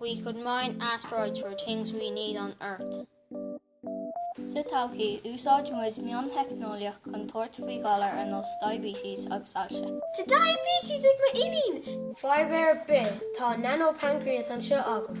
We could mine asteroids for things we need on Earth. Sa todhchaí, úsáidfidh muid mion-theicneolaíocht chun tabhairt faoi ghalair ar nós diabetes agus ailse. Tá diabetes ag m'iníon! Fadhb ar bith, tá nano-pancreas anseo agam.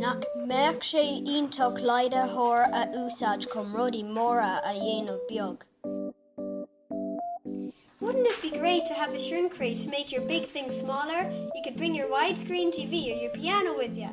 Nach mbeadh sé iontach leidhitheoir a úsáid chum rudaí móra a dhéanamh beag? Wouldn't it be great to have a shrink ray to make your big things smaller? You could bring your widescreen TV or your piano with ya!